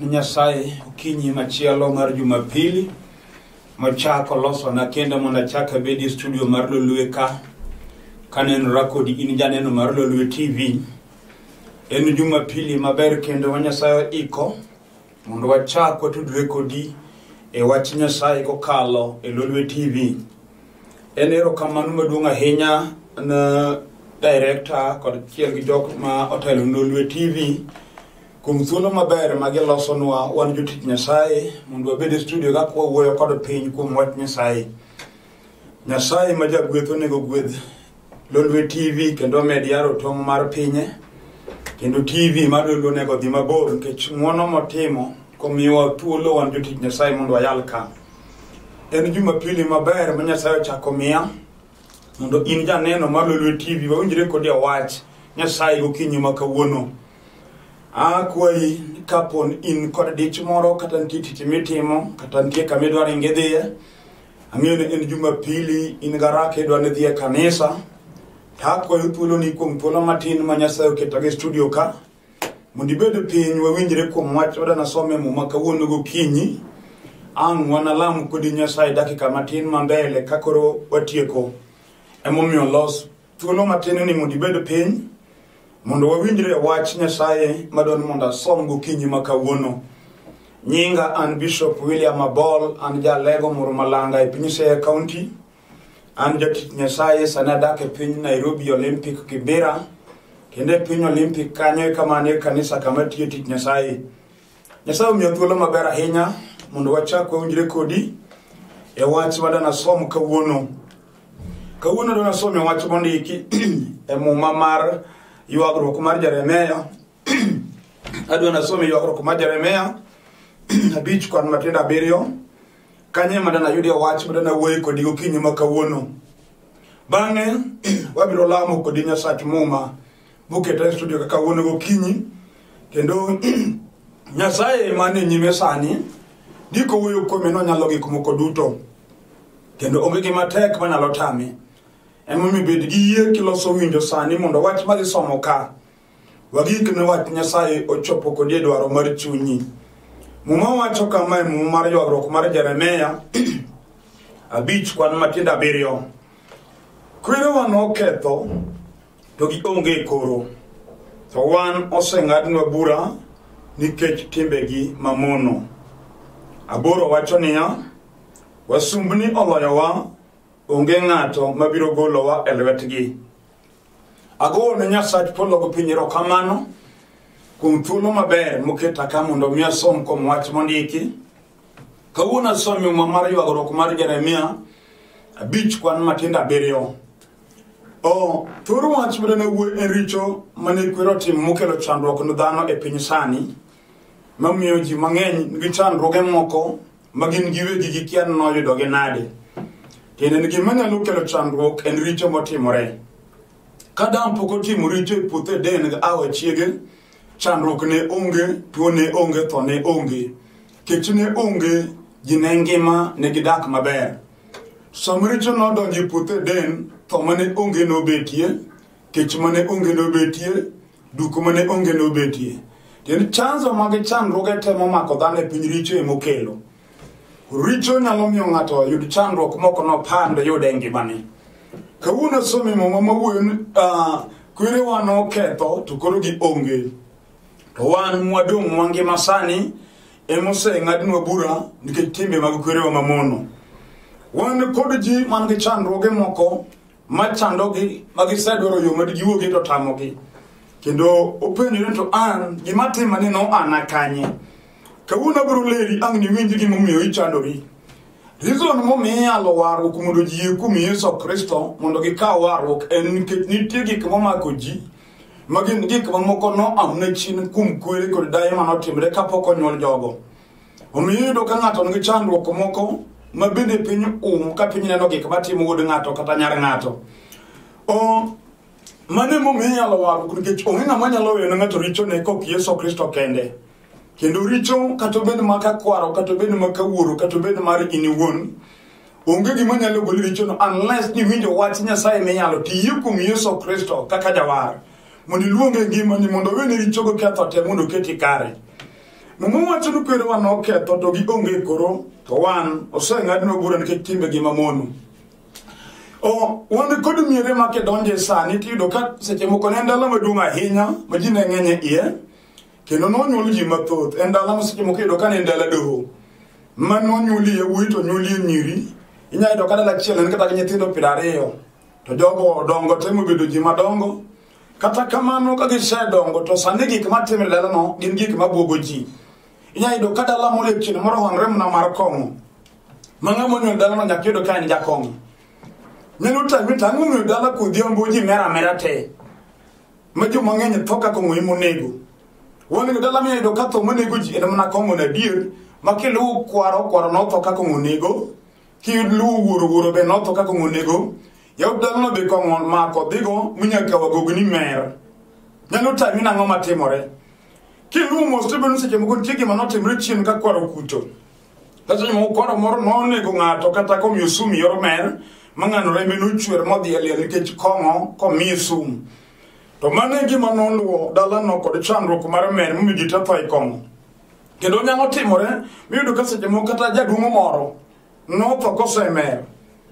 Nyasaye okinyi machielo mar Jumapili mochako losona kendo mondo achak abed e studio mar Lolwe ka kanenora kodi in janeno mar Lolwe TV. En Jumapili maber kendo ma Nyasaye iko mondo wachak watudre kodi e wach Nyasaye kokalo e Lolwe TV. En erokamano maduong' ahinya na director kod chiel gi jok ma otelo Lolwe TV kuom thuolo maber ma gilosonwa wan jotich Nyasaye mondo wabed e studio ka kwawuoyo kod piny kuom wach Nyasaye. Nyasaye ma jagweth onego gwedh Lolwe TV kendo med yaro tong' mar pinye kendo TV mar Lolwe onego dhi mabor nikech ng'wono motimo komiwa thuolo wan jotich Nyasaye mondo wayal ka. En jumapili maber ma Nyasaye ochako miya mondo in janeno ma lolwe tv wawinjre kodi awach nyasaye gokinyi ma kawuono akwayi kapon in kod dich moro kata nitie tich mitimo kata nitie kama idwaro inge dhiye ang'eyo ni en jumapili in garaka idwa ni dhiye kanisa to akwayo thuoloni kuom thuolo matin ma nyasaye oketo gi studio ka Mondo ibed piny wawinjre kuom wach oda nasome muma kawuono gokinyi. Ang' wanalam kodi Nyasaye dakika matin ma mbele ka koro watieko. Emomiyo los thuolo matin ni mondo ibed piny mondo wawinjre wach Nyasaye madon mondo asom gokinyi ma kawuono. Nyinga an Bishop William Abol, an jalego moro malanga e piny Siaya County. An jatich Nyasaye sani adak e piny Nairobi Olympic Kibera kendo e piny Olympic kanyo e kama ne kanisa kama tiyo tich Nyasaye. Nyasaye omiyo thuolo maber ahinya mondo wachak wawinjre kodi e wach ma danasom kawuono. Kawuono danasom e wach mondiki e muma mar ywagruok mar Jeremia adwa nasome ywagruok mar jeremia abich kwan matindo abiriyo kanye mada nayudie wach mada nawuoyo kodi gokinyi ma kawuono bang'e wabiro lamo kodi nyasach muma buketa e studio ka kawuono gokinyi kendo nyasaye mane nyime sani ndiko wuoyo kuome nonyalo gik moko duto kendo onge gima tek manyalo tame emomiyo bed gi yie kiloso winjo sani mondo wach ma gisomo ka Wagik ne wach Nyasaye ochopo kodi e dwaro mar chunyi. Muma wacho kama e muma mar ywagruok mar Jeremia abich kwan matindo abiriyo. Kwerewa noketho to gionge e koro, to wan oseng'adnwa bura nikech timbegi mamono. Aboro wacho niya, wasumbni oloyowa, onge ng'ato mabiro golowa e lwetgi. Agoyo ne Nyasach polo gi piny erokamano kuom thuolo maber moketa ka mondo mi asom kuom wach mondiki. Kawuono asomi muma mar ywagruok mar Jeremia abich kwan matindo abiriyo. O thoro wach mane wuo en richo mane kwero tim mokelo chandruok ne dhano e piny sani mamiyo ji mang'eny nigi chandruoge moko ma gin giwegi gikia ni noyudogi nade tiende ni gima nyalo kelo chandruok en richo motimore ka dam pok otimo richo e puothe eden gi awa chiege chandruok ne onge tuo ne onge tho ne onge kech ne onge ji ne ngima ne gidak maber sama richo nodonjo e puothe eden tho mane onge nobetie kech mane onge nobetie duko mane onge nobetie tiend chanzo mag chandruoge temo mako dhano e piny richo emokelo richo nyalo miyo ng'ato yud chandruok moko nopand yude e ngimani kawuono somi muma mawuoyo ni ah, kwerewa noketho to koro gi onge to wan mwadong' mangima sani emoseng'adnwa bura nikech timbe mag kwerewa mamono wan kod ji man gi chandruoge moko ma chandogi ma gisedwaro yo madijiwogi to tamogi kendo openjore to an gima tima ni no ana kanye kawuono abiro leri ang' niwinj gimomiyo ichandori rizon momiyo iyalo warruok mondo ji yie kuom yesu kristo mondo gikaw warruok en nikech nitie gik momako ji ma gin gik mamoko noamne chien kuom kwere kod daye manotimre kapok onyuol jogo Omiyo iyudo ka ng'ato nigi chandruok moko ma bende piny um ka piny neno gik matimo wuod ng'ato kata nyar ng'ato. O mano emomiyo inyalo warruok nikech onge ng'ama nyalo weyone ng'ato richone kok Yesu Kristo kende. Kendo richo kata obed ma ka kwaro kata obed ma ka wuoro kata obed mar in iwuon onge gima nyalo goli richono unless ni winjo wach Nyasaye minyalo tiye kuom Yesu Kristo kaka jawar mondo iluonge ngimani mondo owene richogo ketho te mondo oketi kare. Muma wacho ni kwerewa noketho to gionge koro to wan oseng'adnwa bura nikech timbegi mamono. O, wan kod miere ma kidonje sani tiyudo ka seche moko ne en dala maduong' ahinya ma ji ne ng'eny e iye kendo nonyuol ji mathoth en dala ma seche moko iyudo ka ne en dala doho ma nonyuolie yawuoyi to nyuolie nyiri inyalo yudo ka dala achiel en kata gi nyithindo piero ariyo to jogo odongo temo bedo ji madongo kata kamano ka gisedongo to sani gik matimre dalano gin gik mabwogo ji inyalo yudo ka dala moro e kinde moro honre mna mar kong'o ma ng'ama onyuol dalano nyaka yudo ka en jakong'o nyalo tami to ang'o ng'eyo dala kodhiambo ji mera amera te ma jo mang'eny tho ka kong'o ema onego wang'eyo dala minyalo yudo ka tho monego ji en mana kong'o na adier ma kiluwo kwaro kwaro notho ka kong'o onego kiyud luwo wuoro wuoro be notho ka kong'o onego Jaod dhanono be kong'o mako dhigo minyaka wagogi ni mer. Nyalo tami nang'o matimore? Kiluwo mos to bedo ni seche moko nitie gima notimre chien ka kwaro kucho. Kata seche moko kwaro moro nonego ng'ato kata komiyo sum yor mer ma ng'ano rembe nochwer modhi e liel nikech kong'o komiye sum. To mano e gima noluwo dalano kod chandruok mar mer momiyo ji tetho e kong'o. Kendo nyalo timore miyudo ka seche moko kata jaduong' moro Notho kosemer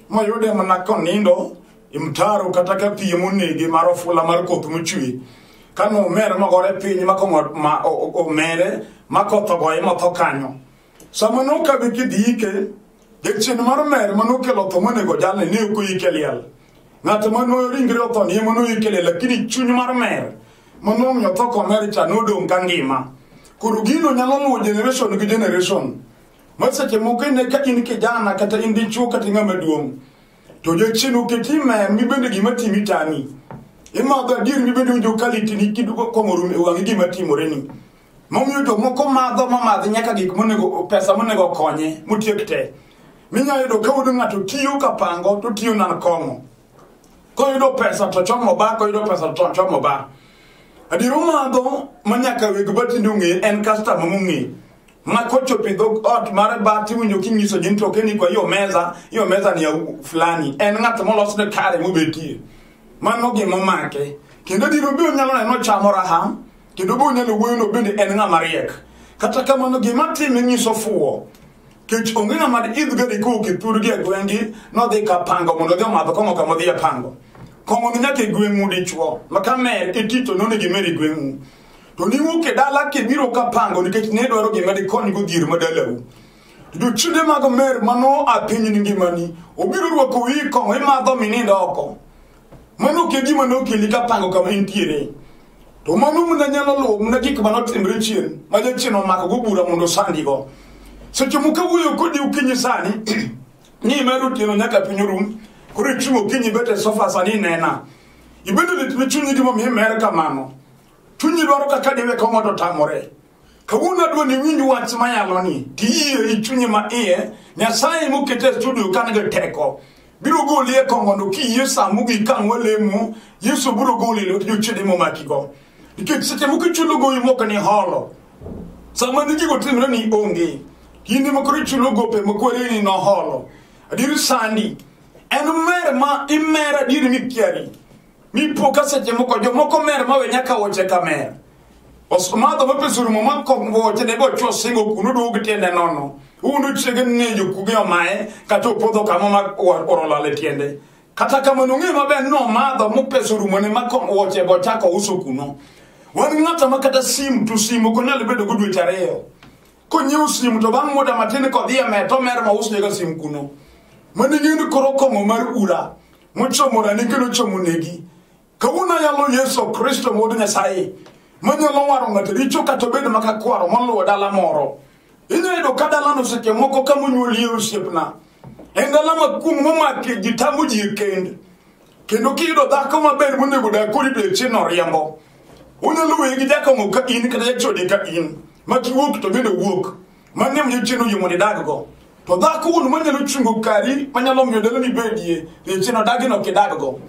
moyude mana konindo e mtaro kata ka piem onege mar ofula mar koth mochwe ka nomer mogore piny ma komo- ma- o- o- omere ma koth ogoye motho kanyo sama nokadho kidhi ike jachien mar mer ma nokelo tho monego jalne ne ok oyike liel ng'at ma no ringre otho ni ema noyike liel lakini chuny mar mer ma nomiyo tho komer cha nodong' ka ngima koro gino nyalo luwo generation gi generation ma seche moko ine ka in kijana kata in dichuo kata ng'ama duong' to jachien oketi mer mibende gima timi tami imadho adier mibende winjo ka litini kidugo kong'orum e wang'i gima timoreni momiyo jomoko madho mamadhi nyaka gik monego pesa monego konye motiek te minyalo yudo ka wuod ng'ato tiyo ka pango to tiyo nan kong'o koyudo pesa to chomo ba koyudo pesa to chomo ba adier omadho ma nyaka weg batinde ong'e en kastama mong'e ma kochopo idho ot mar bat iwinjo kinyiso ji ni to keni kwa hiyo meza hiyo meza ni ya u- fulani en ng'at molosne kare mobetie mano gima omake kendo diro be onyalo neno chamo raha kendo be onyalo wuoyono bende en ng'ama riek kata kamano gima time nyiso fuwo kech onge ng'ama idh gari kowuok e thurgi e gweng'gi nodhi ka pango mondo odhi omadho kong'o kama odhi e pango kong'o ni nyaka e gweng'u dichwo ma ka mer itito nonegi mer e gweng'u to niwuok e dala kibiro ka pango nikech ne dwaro gima dikonygo dhier ma dalau to jochiende mag mer mano a piny ni ngimani obiro rwako wi kong'o imadho minindo oko mano ke gima nokeli ka pango kama intiere to mano mna nyalo luwo mna gik ma notimre chien ma jachien omakogo bura mondo osandigo seche moko wuoyo kodi ukinyi sani ni mer otieno nyaka piny orum koro ichung' okinyi bet e sofa sani inena ibedo lit ne chunyi gimomiyo imer kamano chunyi dwaro kaka diwe ka ng'ato otamore kawuono adwa ni winj wach mayalo ni tiyie i chunyi ma iye nyasaye mokete e studio ka nigi teko biro goli e kongono kiyie sa mogik ka ng'wa lemo yesu biro goli e lwet jochiede momakigo nikech seche moko ichulo gowi moko ni holo sama ni gigo timre ni onge kinde mokoro ichulo gope mokwere ni noholo adier sandi en mer ma imer adier mikiari mipo ka seche moko jomoko mer mawe nyaka woche ka mer osumadho mapesuru moma kongwoche ne bochwo singo kuno duog tiende nono uno chiege nejo kuge omaye kata opodho kama ma orolale tiende kata kamano ong'e maber ni omadho mopesuru mone ma kongwoche bochako uso kuno wan ng'ata ma kata simu to simu ok onyal bedo go dweche ariyo konyiew simu to bang' muda matin kodhi e meto mer ma usnega simu kuno mane ng'eni koro kong'o mar ura mochomorani kendo chomonegi kawuono ayalo yesu kristo wuod nyasaye manyalo waro ng'ato richo kata obedo maka kwaro moluwo dala moro inyalo yudo ka dalano seche moko ka monyuolie osiepna en dala makuong' momake ji tamo ji e kend kendo kiyudo dhako maber monego dak kodi to echieng' oriembo unyalo weye gi jakong'o ka in kata jachode ka in ma kiwuok to bende owuok mano emiyo chieno yie mondo idaggo to dhako wuon manyalo chungo kari manyalo miyo dalani bedie ni chieno dagino kidaggo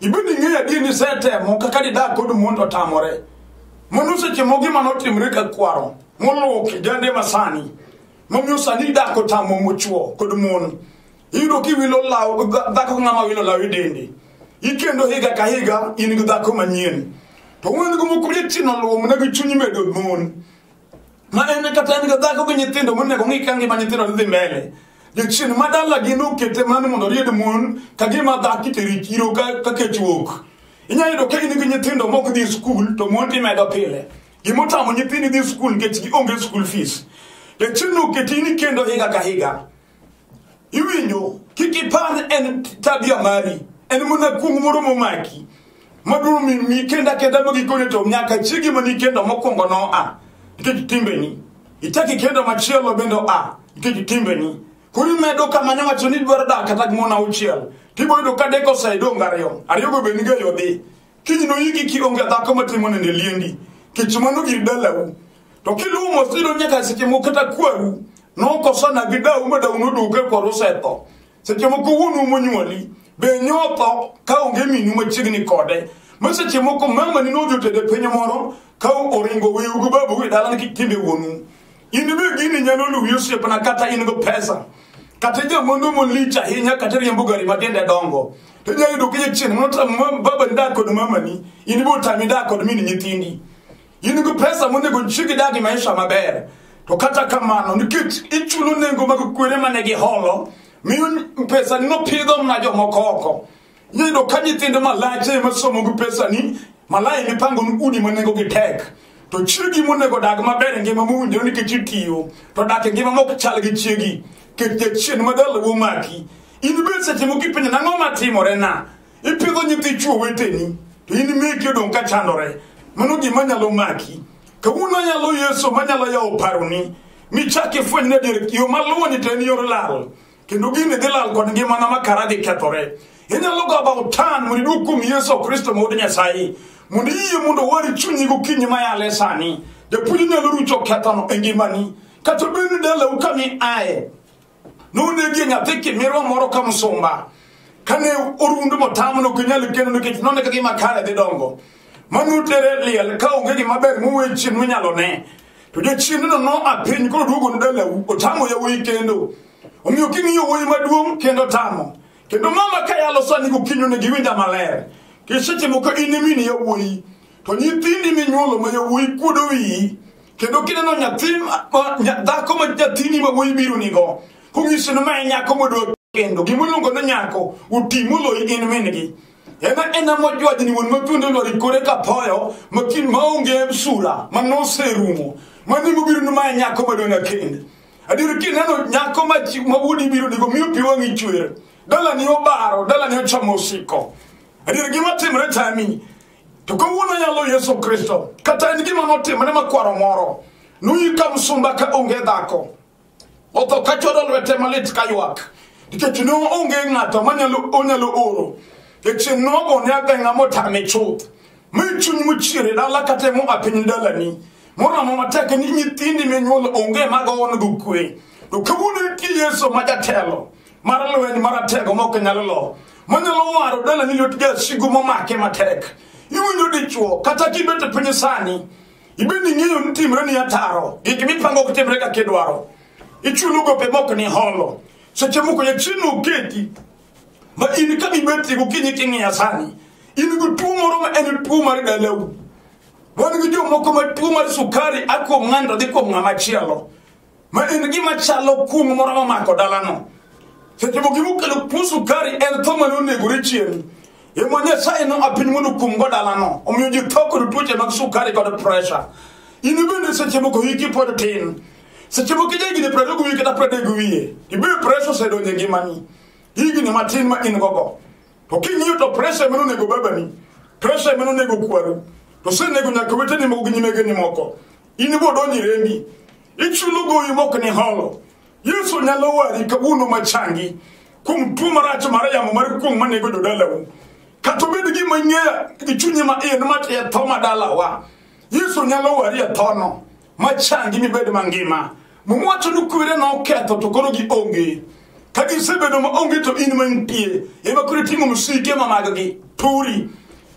ibed ing'eyo adier ni isetemo kaka didag kod mondo otamore mondo seche moko gima notimre ka kwaro moluwo kijande masani momiyo sani dak otamo mochuo kod mon iyudo kiwilo law dhako ng'ama wilo law e dende ikendo higa ka higa in gi dhako manyien to wuon go moko lietino luwo mana gi chunyi medo mon ma en kata en dhako gi nyithindo monego ng'i ka ngima nyithindo dhi mbele jachien ma dalagi nokete mano mondo oried mon ka gima dhaki teri chiro ka ka kech wuok inyalo yudo ka in gi nyithindo mok dhi skul to mon timedo pile gima otamo nyithindi dhi skul nikech gionge skul fees jachien noketi ni kendo higa ka higa iwinjo kik ipar en tabia mari en mana kuong moro momaki maduo mi kenda kenda magikone to nyaka chigi mani kenda mokwongo no a nikech timbeni ichaki kenda machielo bende a nikech timbeni koro imedo kama nyawacho ni dwaro dak kata gimona auchiel tiboyudo ka deko osedong ariyo ariyogo be niga yodhi kiny noyiki kionge dhako matimo nende liendi kech mano gir dalau to kiluwo mos iyudo nyaka seche moko kata kwaru nokosana gi dau ma dau noduoke kwaru osetho seche moko wuonu monyuoli be nyotho ka onge minu machiegni kode ma seche moko mamani nodhi otede piny moro ka oringo weugo babu e dalani kik timbe wuonu in be gini nyalo luwi osiepna kata in go pesa kata jamondo molich ahinya kata riembo gari matiende dongo to inyalo yudo kinya chieng' motamo babani dak kod mamani in be otami dak kod min nyithindi in go pesa monego chiegi dak i maisha maber to kata kamano nikech ichulo nengo mag kwere mane giholo miyo pesa nino pidho mna jomoko oko Nyayudo ka nyithindo malach ema somo gi pesani, malaya ema ipango ni udi ma nengogi tek. To chiegi monego odag maber e ngima mowinjore nikech itiyo, to dak e ngima mok chal gi chiegi, nikech jachien ma dala wuo maki. In be seche moko ipenjo nang'o matimorena? Ipidho nyithi chuo weteni, to in meki odong' ka chandore. Mano gima nyalo maki. Kawuono nyalo Yesu manyalo yawo paroni, michak ifweny ni adier yo maluwoni to en yor lal. kendo gini dhi lal kod ngimana ma kara dhi kethore inyalo go about tan mondo iduog kuom yesu kristo ma wuod nyasaye mondo iyie mondo wari chunyi gokinyi ma yale sani japuonj inyalo rucho kethono e ngimani kata obed ni dalau kami aye nonegie nyathi kimirwa moro ka msumba kane orundu motamo no kinyal kendo nikech none kaka gima kare dhi dongo manutere liel ka onge gima ber muwe chien minyalo ne to jachiendno noa piny koro duogo dalau otamo yawuoyi kendo omiyo king'iyo wuoyi maduong' kendo tamo kendo mama ka yalo sani gokinyo ne giwinja maler kiseche moko in imini yawuoyi to nyithindi minyuolo ma yawuoyi kuodo wiyi kendo kineno nyathi dhako ma nyathini ma wuoyi biro nigo kong'iso ni ma en nyako modwa kendo gimiluongo ni nyako oti moloyi in min-gi ena ena mojwaj ni wuon mathuondo lwar ikore kapoyo makin maonge sura manoserumo mani mobiro ni mae nyako madona kend adier kineno nyako ma chi- ma wuodi biro digo miyo pi wang'i chwer dalani obaro dalani ochamo osiko adier gima timre tami to kawuono yalo yesu kristo kata en gima notimre makwaro moro noyika msumba ka onge dhako otho ka chodo lwete malit ka ywak nikech ne onge ng'ato manyalo onyalo oro nikech nogo ne ageng'a motame chuth mi chuny mochiere dala katemo a piny dalani moramo matek ni nyithindi minyuolo onge magowonego kwe to kawuono nitie yesu ma jatelo mar lweny maratego ma ok nyal lo manyalo waro dalani lwet jasigu momake matek iwinjo dichwo kata kibet e piny sani ibed ni ing'eyo ni timre ni ataro gik mipango ok timre kaka idwaro ichulo gope mok ni holo seche moko jachieno oketi ma in ka mibetri gokinyi king'iya sani in gi tuo moro ma en tuo mar dalau wan gi jomoko ma tuo mar sukari a kuom ng'ani to dhi kuom ng'ama chielo ma en gima chalo kuong' moro mamako dalano seche moko gimokelo kuo sukari en tho mane onegore chien ema nyasaye no apiny mondo kuomgo dalano omiyo ji tho kod tuoche mag sukari kod pressure in bende seche moko hiki pod tin seche moko ija higni prariyo gi wiye kata pradek gi wiye ibiro pressure osedonje ngimani higni matin ma in gogo to king'iyo to pressure emane onego babani pressure emane onego kwaru to osenego nyaka weteni moko gi nyimegeni moko in ibo donji rembi ichulo gowi mok ni holo yesu nyalo wari kawuono machangi kuom tuo marach mar yamo mar kuong' manego jodalau kata obed gima ing'eya gi chunyi ma in ma e tho ma dalawa yesu nyalo wari e thono machangi mibed mangima mowacho ni kwere noketho to koro gionge ka gisebedo ma onge to in mantie ema koro itimo msike ma maggi turi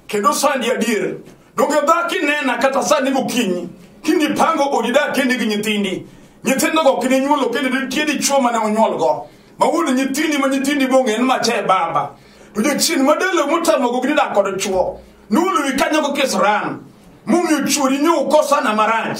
kendo sandi adier Donge dhako inena kata sani gokinyi kinipango odi dak kendi gi nyithindi nyithindogo ok ninyuolo kendo nitie dichwo mane onyuolgo ma wuon nyithindi ma nyithindi bong'e en mache baba to jachien madalo motamogo gi nidak kod chwo noluwi kanyogo kisran momiyo chwori nyoukosana marach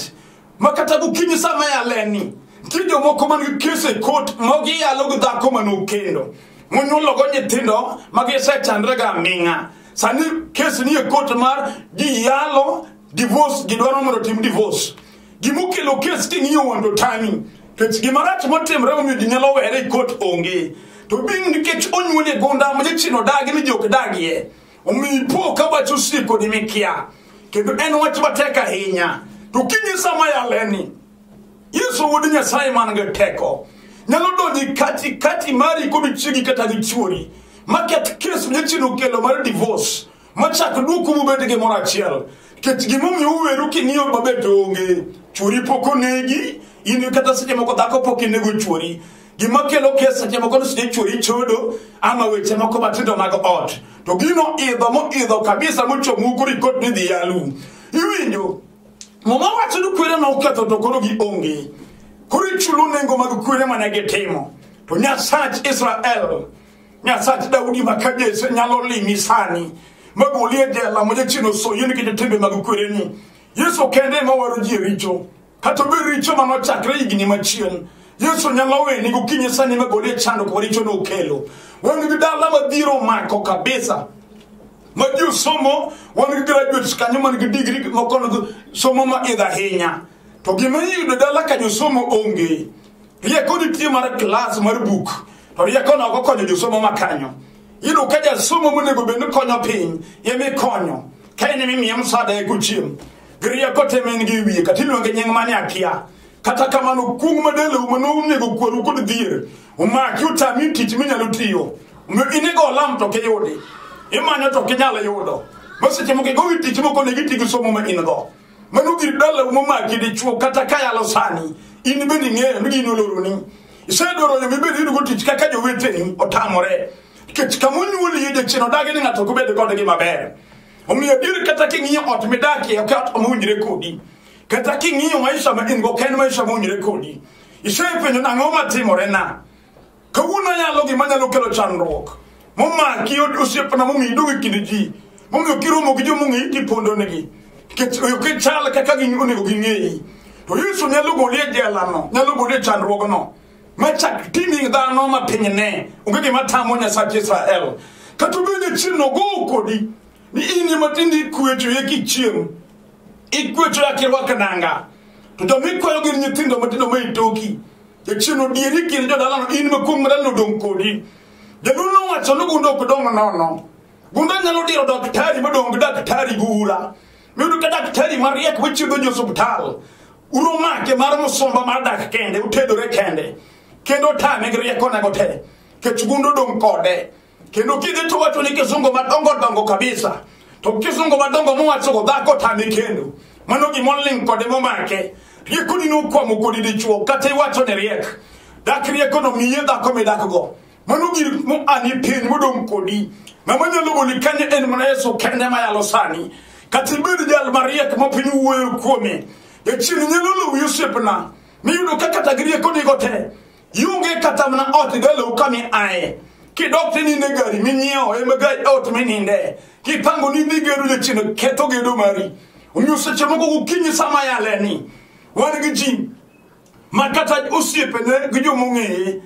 ma kata gokinyi sama yaleni nitie jomoko man gi kes e kot ma giyalo gi dhako ma nokendo monyuologo nyithindo ma gisechandre ga aming'a sani kes ni e kot mar giyalo divorce gidwaro mondo otim divorce gimokelo kes king'iyo wando tani kech gimarach motimre omiyo ji nyalo were e kot onge to bing nikech onyuol e gunda ma jachien odagi ni jok dagie omiyo ipo ka wach osiko ni mikia kendo en wach matek ahinya to kinyi sama yaleni yesu wuod nyasaye man gi teko nyalo donji kati kati mari kod chiegi kata gi chuori maketh kes mnyachien okelo mar divorce machak duoku mubed gi moro achiel nikech gimomiyo uweru king'iyo maber to onge chuori pok onegi in kata seche moko dhako pok inego chuori gima kelo kes seche moko ni seche chwori chodo ama weche moko matindo mag ot to gino idho moidho kabisa mochomu koro ikot ni dhi yalu iwinjo muma wacho ni kwere ma oketho to koro gionge koro ichulo nengo mag kwere mane gitimo to nyasach israel nyasach daudi ma ka jese nyalo limi sani magoli e jela ma jachien osoyie nikech timbe mag kwereni yesu kende ema waro ji e richo Kata obedo richo ma nochakre higni machien, Yesu nyalo weni gokinyi sani ma gole chandruok ma richo nokelo. Wan gi dala madhiro mako kabisa. Ma ji osomo, wan gi graduates kanyo man gi digri moko nigi somo ma idho ahinya. To gima iyudo dala ka josomo onge. Rieko nitie mar klas mar buk, to rieko no ok okonyo josomo ma kanyo. Iyudo ka jasomo monego bed ni konyo piny, emikonyo. ka in mimiye msada e gochiem giriya kote men gi wiye kata iluonge nying mane akia kata kamano kung madelo mano unego kwaru kod dhier umaki utami tich minyalo tiyo omiyo inego olam to kiyudi imanyo to kinyalo yudo maseche moko igowi tich moko ne giti gi somo ma in go mano gir dala umomaki dichuo kata kayalo sani in bende ing'eyo ni gin oloroni isedoro yo mibed yudo go tich kaka joweteni otamore nikech kama onyuolie jachien odagi ni ng'ato ok obed kodgi maber omiyo adier kata king'iyo ot midakie ok ot mowinjre kodi kata king'iyo maisha ma in-go ok en maisha mowinjre kodi isepenjo nang'o matimorena kawuono yalo gima nyalo kelo chandruok momaki osiepna momiyo idong' e kind ji momiyo kiromo gi jomong'eyi tipondonegi nikech ok ichal kaka onego ging'eyi to yesu nyalo goli e jelano nyalo goli e chandruogno machak timing dhano ma piny ne onge gima tamo nyasach israel kata obed ni chieng'no gowo kodi ni in ema tinde ikwecho ye kichieng' ikwecho ya kirwak nanga to joma ikwayo gin nyithindo matindo ma itoki jachieng' odieri kind jodalano in makuong' madalano odong' kodi jaduong' nowacho ni gunde ok dong' nono gunde nyalo diro daktari madong' gi daktari gula miyudo ka daktari mariek machiedho jo osuptal uromake mar musumba mar dak kende utedore kende kendo otame gi riekonego te kech gundo dong' kode kendo kidhi to wacho ni kisungo madongo dongo kabisa to kisungo madongo mowachogo dhako otame kendo mano gimoling' kode momake riekoni nokwamo kodi dichuo kata iwacho ni riek dak riekono miye dhako midakgo mano gir moani piny modong' kodi ng'ama nyalo goli kanyo en mana yesu kende mayalo sani kata ibed jal mariek ma piny wuoyo kuome jachien nyalo lowi osiepna miyudo ka kata gi rieko nigo te ionge kata mana ot idalow kami aye kidok tininde gari minyiewo ema gari ot mininde kipango ni dhi gedo jachien ketho gedo mari omiyo seche moko gokinyi sama yaleni wan gi ji ma kata osiepene gi jomong'eye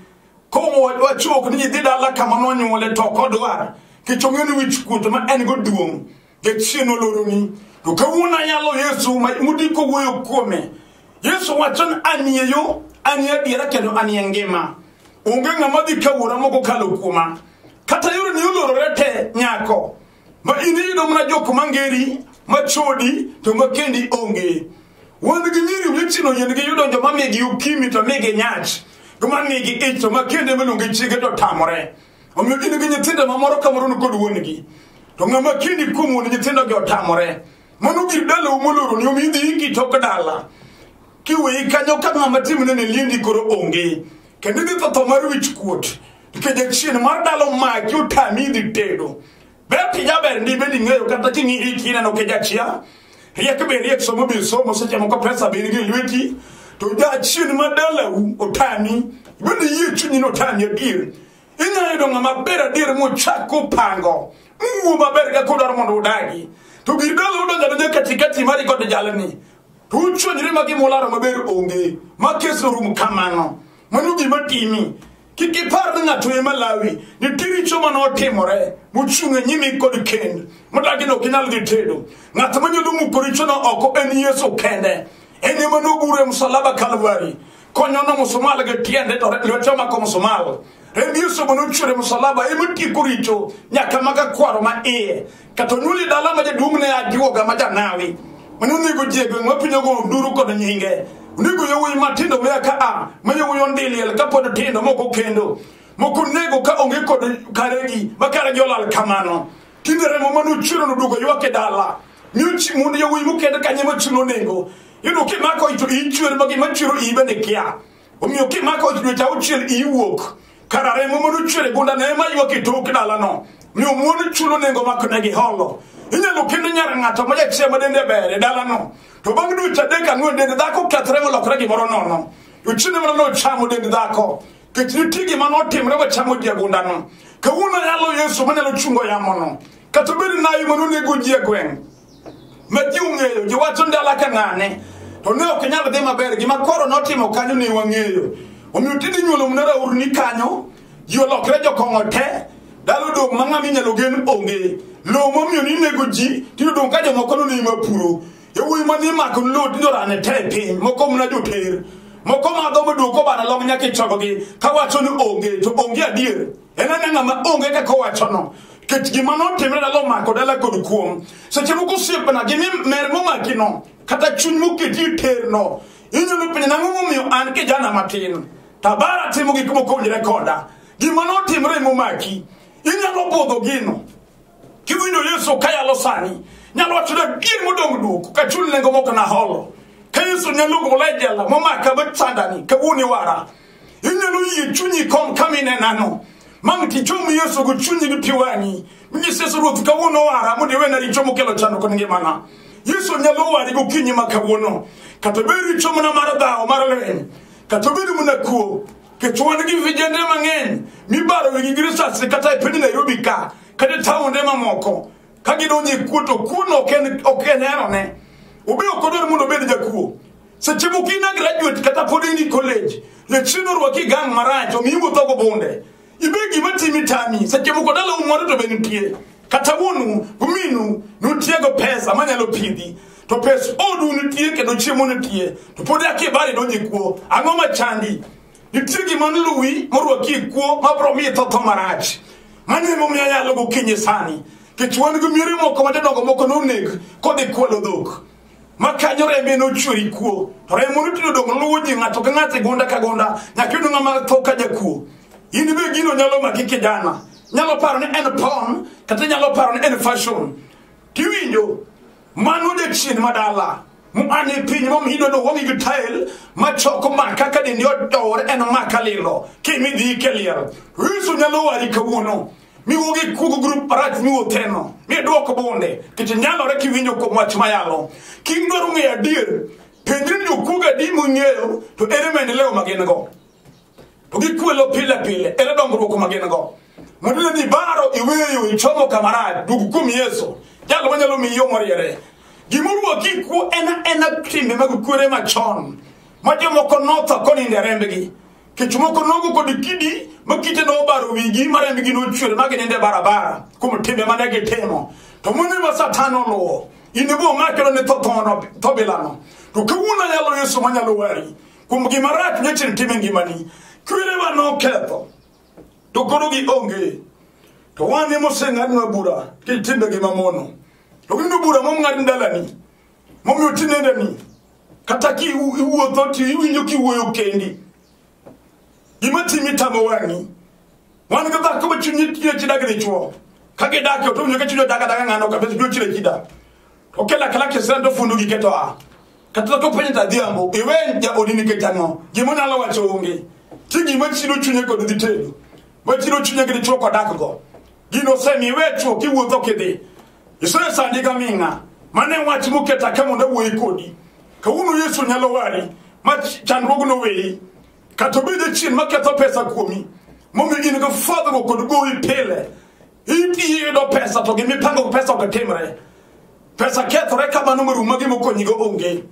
Kong'o wachuok ni nyithi dala kama nonyuole to ok odwar kech ong'eyo ni wich kuot ma en go duong' kechien oloroni to kawuono ayalo yesu mudiko wuoyo kuome yesu wacho ni anie yo anie adiera kendo anie ngima onge ng'ama dhi ka wuora mokokalo kuoma kata yoreni olorore te nyako ma in iyudo mana jok mangeri machodi to makendi onge wan gi nyiri wechino yien gi yudo joma migi ukimi to migi nyach joma migi ich to makende meluongi chiege to tamore omiyo in gi nyithindo mamoro kamoro nikod wuongi to ng'ama kendi kuom wuon nyithindogi otamore mano gir dalau moloroni omiyo idhi iki tok dala kiweyi kanyo ka ng'ama timne ne liendi koro onge kendo idhi tho tho mar wich kuot Kede chien mar dalo magi otami dhi tedo. Ber tijaber ndi bende ing'eyo kata king'i hiki ineno kijachia. Riek be riek somo be somo seche moko pesa be nigi lweti. To jachien ma dalau otami. Bende yie chunyi ni otami adier. Inyalo yudo ng'ama ber adier mochako pango. Muo maber kaka odwaro mondo udagi. To gir dalo udonjo adonja katikati mari kod jalni. To uchwanyre ma gimolaro maber onge. Ma kes orum kamano. Mano gima timi. kik ipar ni ng'ato ema lawi nitie richo ma notimore mochung' e nyimi kod kend modagi ni ok inyal dhi tedo ng'at manyalo muko richono oko en yesu kende en ema nogure msalaba kalvari konyono musumal gi tiende to lwete omako musumal remb yesu ma nochwere msalaba ema tieko richo nyaka maga kwaro ma iye Kata onuli dala ma jaduong' ne ajuoga ma janawi. Mane onego ji e gweng' ma piny ogo nduru kod nyinge. Onego yowuoyi matindo mea ka a ma yowuoyi ondiliel ka pod tindo moko kendo. Moko nego ka onge kod karegi ma karegi olal kamano. Tinde remo mane ochwero noduogo ywak e dala. Mi ochi mondo yowuoyi mokend kanye ma chulo nengo. Yudo kimako ito ichwer ma gima chwero iyi bende kia. omiyo kimako dweche auchiel iwuok kara remo mondo ochwer e gunda ne ema ywak e tok dalano mi omuon chulo nengo makone gi holo inyalo kendo nyar ng'ato ma jachia ma dende ber e dalano to bang' dweche adek ang'wen dend dhako kethre molokre gimoro nono to chiende mana nochamo dend dhako kech nitie gima notimre wachamo ji e gundano kawuono yalo yesu manyalo chungo yamono kata obed nayi manonego ji e gweng' ma ji ong'eyo ji wacho ndala ka ng'ane to ne ok nyal dhi maber gima koro notimo kanyo ne wang'eyo omiyo tinde nyuolo mna rauru ni kanyo ji olokre jokong'o te dalo dong' ma ng'ama inyalo gen onge lowo momiyo ni nego ji tinde dong' ka jomoko no nima puro yawuoyi ma nimako lowo tinde orane te e piny moko mna joter moko madho modwoko bana long nyaka ichogogi kawacho ni onge to onge adier en ane ng'ama onge kaka owachono ket gima notimre dala omako dala kod kuom seche moko osiepna gi mer momakino kata chuny moketi e terno inyalo penjo nang'o momiyo an kijana matin tabara timo gik mokowinjore koda gima notimre momaki inyalo budho gino Kiwinjo Yesu kayalo sani, nyalo wacho ni adier modong' duoko ka chul nengo moko naholo. Ka Yesu nyalo gola e jela momaka bet sandani kawuono iwara. Inyalo yie chunyi kom kama inenano. Mang' tichom Yesu gi chunyi gi pi wang'i. Minyis Yesu Ruoth kawuono wara mondo iwena richo mokelo chandruok ne ngimana. Yesu nyalo wari gokinyi ma kawuono. Kata obed richo mana mar dhawo mar lweny. Kata obed mana kuo. kech wan gi vijende mang'eny mibaro wigi gi risasi kata e piny nairobi ka kata e taonde mamoko ka gidonjo e kuo to kuono ok en- ok en herone obe ok odwar mondo obed jakuo seche moko in a graduate kata pod in e college jachien orwaki gang marach omiyi wuothogo bunde ibe gima timi tami seche moko dala umoro to be nitie kata wuonu guminu nutiego pesa manyalo pidhi to pes odu nitie kendo chiemo nitie to pod akie bari donje kuo ang'o machandi nitie gima nluwi morwaki kuo mabro miyi thotho marach mano emomiyo anyalo gokinyi sani kech wan gi miere moko madadongo moko noneg kodhi kwalo dhok ma kanyo rembe nochweri kuo to remo notino dong' luwo ji ng'ato ka ng'ato e gonda ka gonda nyaka yudo ng'ama tho ka jakuo in be gino nyalo maki kijana nyalo paro ni en pon kata nyalo paro ni en fashion tiwinjo mano jachien madala an e piny momido no wang'i gi tael machoko maka ka dendi odowore en maka lilo kimidhi keliel yesu nyalo wari kawuono miwuo gi kugo grup marach miwuotheno midwoko bunde kech nyalore kiwinjo kuom wach mayalo kidwaro ng'eyo adier penjri ni jokuoga di mong'eyo to ere maendeleo ma gin go to gikwelo pile pile ere dongruok ma gin go mondo ne dhi baro iweyo ichomo kamarach dug kuom yesu jalo manyalo miyi yo moriere gimoruo kikuo ena ena timbe mag kuere machon ma jomoko notho konindo e rembgi Kech moko nogo kod kidi ma kite nobaro wigi ma rembgi nochwer ma ginindo e barabara kuom timbe ma ne gitimo. To mone ma Satan oluwo, in ibo makelo ne tho thono tho bilano. To kawuono ayalo Yesu ma nyalo wari kuom gima rach nyochir tim e ngimani. Kwerewa noketho, to koro gionge. To wan emoseng'adnwa bura kitimbegi mamono. To winjo bura mong'ad dalani, momiyo tinende ni kata ki iwuotho to iwinjo kiwuoyo kendi gima timi tamo wang'i wan gi dhako ma chunye tine chidak ni chuo ka gidak to winjo ka chunye daga daga ng'ano kabisa chunye chire chida to kela kala kisira to fundu giketo a kata to penye ta dhiambo iwe ja odini ke tango gima nyalo wacho onge ti gima chiro chunye kod dhi tedo ma chiro chunye gi chuo kodak go gino semi iwe chuo kiwuotho kidhi Yesu ne sandi ka ming'a. Mano e wach moketa ka mondo awuoye kodi. Kawuono Yesu nyalo wari ma ch- chandruogno weyi. Kata obed achien maketho pesa kuomi. Momiyo in gi fwadhruok kod gowi pile. Iyudo pesa to gimipango pesa ok timre. Pesa kethore ka mano morum ma gimokonyigo onge.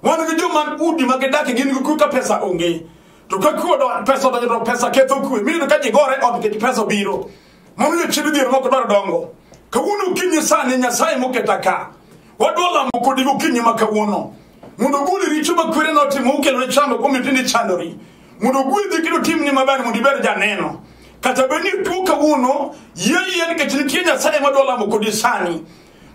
Wan gi joma udi ma gidakie gin gi kwe ka pesa onge. To ka kwe odonjo pesa odonjo to pesa ketho kwe. Miyudo ka ji gore ot nikech pesa obiro. Momiyo chiedh dhier moko dwaro dongo. Kawuono okinyi sani Nyasaye moketa ka. Wadwa lamo kodi gokinyi ma kawuono. Mondo ogol richo ma kwere notimo okelo ne chando kuom itindi chandori. Mondo ogwedhi kendo timni maber mondo ibed janeno. Kata bed ni tuo kawuono yie yie nikech nitie Nyasaye madwa lamo kodi sani.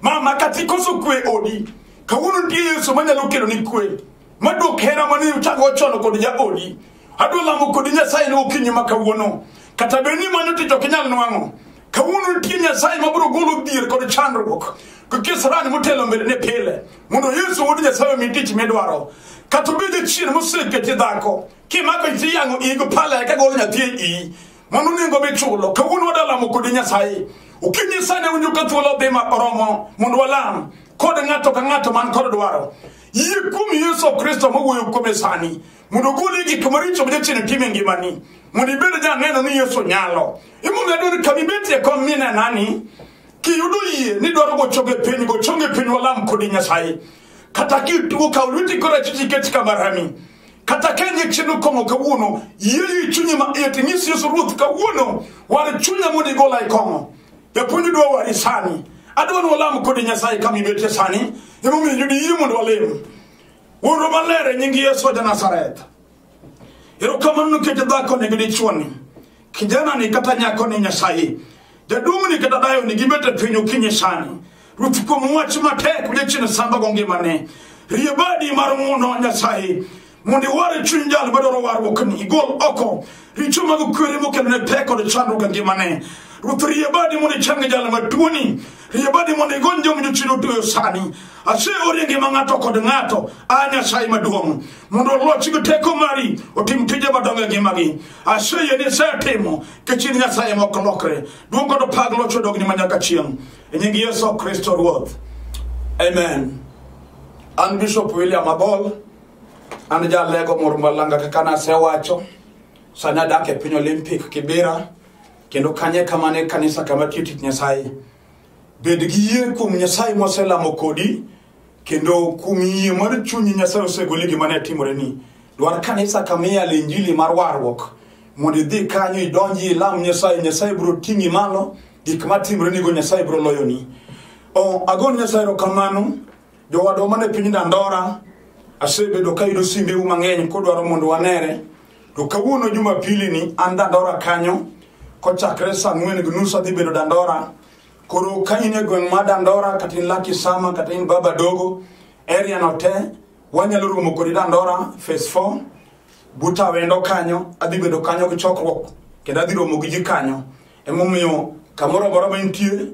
Mama kata ikoso kwe e odi. Kawuono nitie Yesu manyalo kelo ni kwe. Madwok hera mane uchako chon kod jaodi. adwa lamo kodi nyasaye ne okinyi ma kawuono kata bed ni mano tich ok inyal nwang'o kawuono nitie nyasaye mabiro golo dhier kod chandruok kisirani motelo mbelene pile mondo yesu wuod nyasaye omi tich midwaro kata obed jachien moseketi dhako kimako iti yang'o igo pala eka golo nyathi e iyi mano nengo michulo kawuono wadalamo kodi nyasaye okinyi sane winjo ka thuolo dhi ma oromo mondo walam kod ng'ato ka ng'ato man kod dwaro yie kuom yesu kristo mowuoyo kuome sani mondo ogoli gik maricho ma jachien timo e ngimani mondo ibed janeno ni yesu nyalo imomiyo adwaro ni kama ibetie kom minenani kiyudo yie ni dwaro gochonge piny gochonge piny walam kodi nyasaye kata kituo kaw lweti korachich iket kama rami kata ka nie chieno kong'o kawuono yie i chunyi ma iye tinyis yesu ruoth kawuono war chunya mondo igola e kong'o japuonj dwa wari sani adwa ni walam kodi nyasaye kama ibetie sani emomiyo yudi yie mondo walem Wuoro maler e nying Yesu wa Nazareth. Erokamano nikech dhakoni gi dichuoni. Kijanani kata nyakoni Nyasaye. Jaduong'ni kata dayoni gibet e piny okinyi sani. Ruoth kuom wach matek odiechieng' sambago ngimane. Rie badi mar ng'wono Nyasaye. Mondo iwar chuny jal madwaro warruokni. Igol oko richo mag kwere mokelo ne pek kod chandruok e ngimane ruoth rie badi mondo ichang jal matuoni rie badi mondo igony joma jochido otueyo sani ase orie ngima ng'ato kod ng'ato a nyasaye maduong' mondo olochi gi teko mari otim tije madongo e ngimagi ase yie ni isetimo kechir nyasaye ma ok lokre duong' kod pag loch odogni ma nyaka chieng' e nying yesu kristo ruoth amen an bishop william abol an jalego moro malanga kaka nasewacho sani adak e piny olympic kibira kendo kanye kamano e kanisa kama tiyo tich nyasaye bed gi yie kuom nyasaye moselamo kodi kendo kuom yie mar chunyi nyasaye osegoli gima ne timore ni dwar kanisa kama iyale injili mar warruok mondo idhi kanyo idonji ilam nyasaye nyasaye biro ting'i malo gik matimore nigo nyasaye biro loyoni oh, agon nyasaye erokamano Jowadwa man e piny Dandora, asebedo ka yudo simbeu mang'eny kodwaro mondo wanere. To kawuono Jumapili ni an Dandora kanyo, kochakre saa ang'wen gi nus adhi bedo Dandora. Koro ka in e gweng' ma Dandora, kata in Lucky Sama, kata in Baba Dogo, area no te, wanyalo romo kodi Dandora, phase 4. Buta wendo kanyo, adhi bedo kanyo gi chokruok, kendo adhi romo gi ji kanyo. Emomiyo kamoro amora ma intie,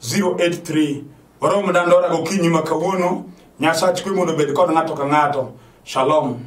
083 warom dandora gokinyi ma kawuono nyasach kwe mondo obed kod ng'ato ka ng'ato shalom